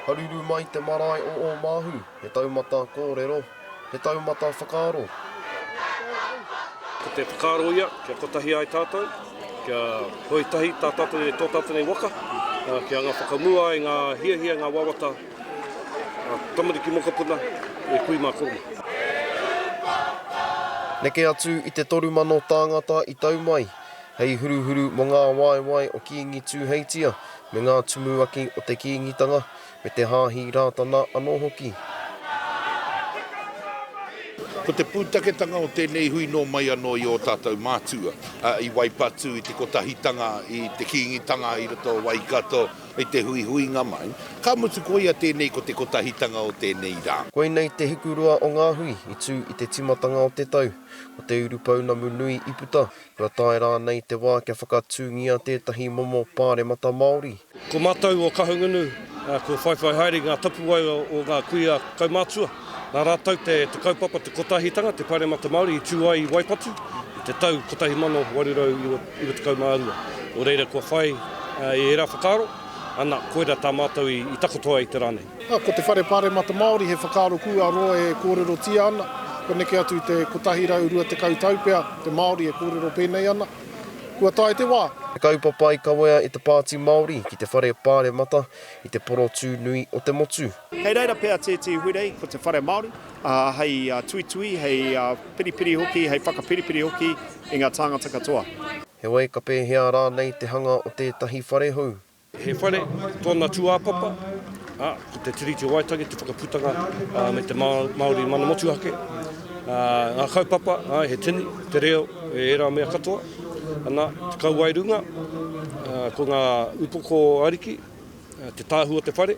Haruru mai te marae o Ōmāhu, he taumata kōrero, he taumata whakaaro. Ko te whakaaro ia, kia kotahi ai tātou, kia whoi tahi tā tātou nei, tō tātou nei waka, kia anga whakamua ai ngā hiahia, ngā wawata. Tamariki mokopuna, e kui mā koutou. Neke atu i te toru mano tāngata i tau mai, hei huruhuru mō ngā waewae o Kīngi Tūheitia me ngā tumuaki o te Kīngitanga, me te Hāhi Rātana anō hoki. Ko te pūtaketanga o tēnei hui nō mai anō i ō tātou mātua, i Waipatū, i te kotahitanga i te Kīngitanga i roto o Waikato, I te huihuinga mai, ka mutu koia tēnei ko te kotahitanga o tēnei rā. Koinei te hikurua o ngā hui i tū i te timatanga o te tau. Ko te urupounamu nui i puta, kua tae rānei te wā kia whakatūngia tētahi momo pāremata Māori. Ko mātou o Kahungunu, kua whaiwhai haere i ngā tapuwae o ngā kuia kaumatua. Nā rātou te kaupapa Te Kotahitanga te Pāremata Māori i tū ai i Waipatu i te tau 1892. Nō reira kua whai i ērā whakaaro, ana, koirā tā mātou i takoto ai te rā nei. Ā, ko te Whare Pāremata Māori he whakaaro kua roa e kōrerotia ana, kua neke atu i te 120 tau pea te Māori e kōrero pēnei ana. Kua tae te wā. He kaupapa i kawea e te Pāti Māori ki te Whare Pāremata i te porotū nui o te motu. Kei reira pea tētehi hurei, ko te whare Māori, ā, hei tuitui, hei piripiri hoki, hei whakapiripiri hoki i ngā tāngata katoa. Heoi, ka pēhea rānei te hanga o tētahi whare hou? He whare, tōna tūāpapa, ā, ko te Tiriti o Waitangi, te whakaputanga, ā, me te Māori mana motuhake, ā, ngā kaupapa, āe, he tini, te reo, e ērā mea katoa, ana, te kauwae runga, ā, ko ngā upoko ariki, te tāhū o te whare.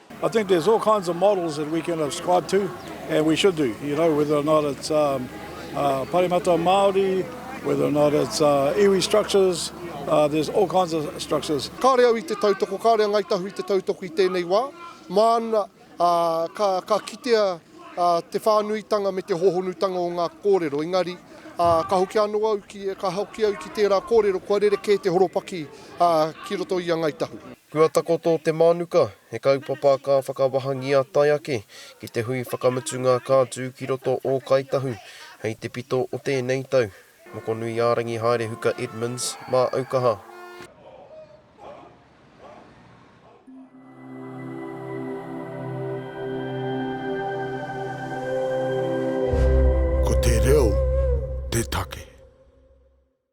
I think there's all kinds of models that we can subscribe to and we should do, you know, whether or not it's um, uh, Paremata Māori, whether or not it's uh, iwi structures, uh, there's all kinds of structures. Kāre au i te tautoko, kāre a Ngai Tahu i te tautoko i tēnei wā. Māna, uh, ka, ka kitea uh, te whānuitanga me te hohonutanga o ngā kōrero. Engari, uh, ka hoki anō au ki, ka hoki au ki tērā kōrero, kua rerekē te horopaki uh, ki roto i a Ngai Tahu. Kua takoto te mānuka, he kaupapa ka whakawahangia tae ake ki te hui whakamutunga ka tū ki roto ō Kāi Tahu hei te pito o tēnei tau. Mokonui-ā-rangi Haerehuka Edmonds mā aukaha. Ko te reo te take.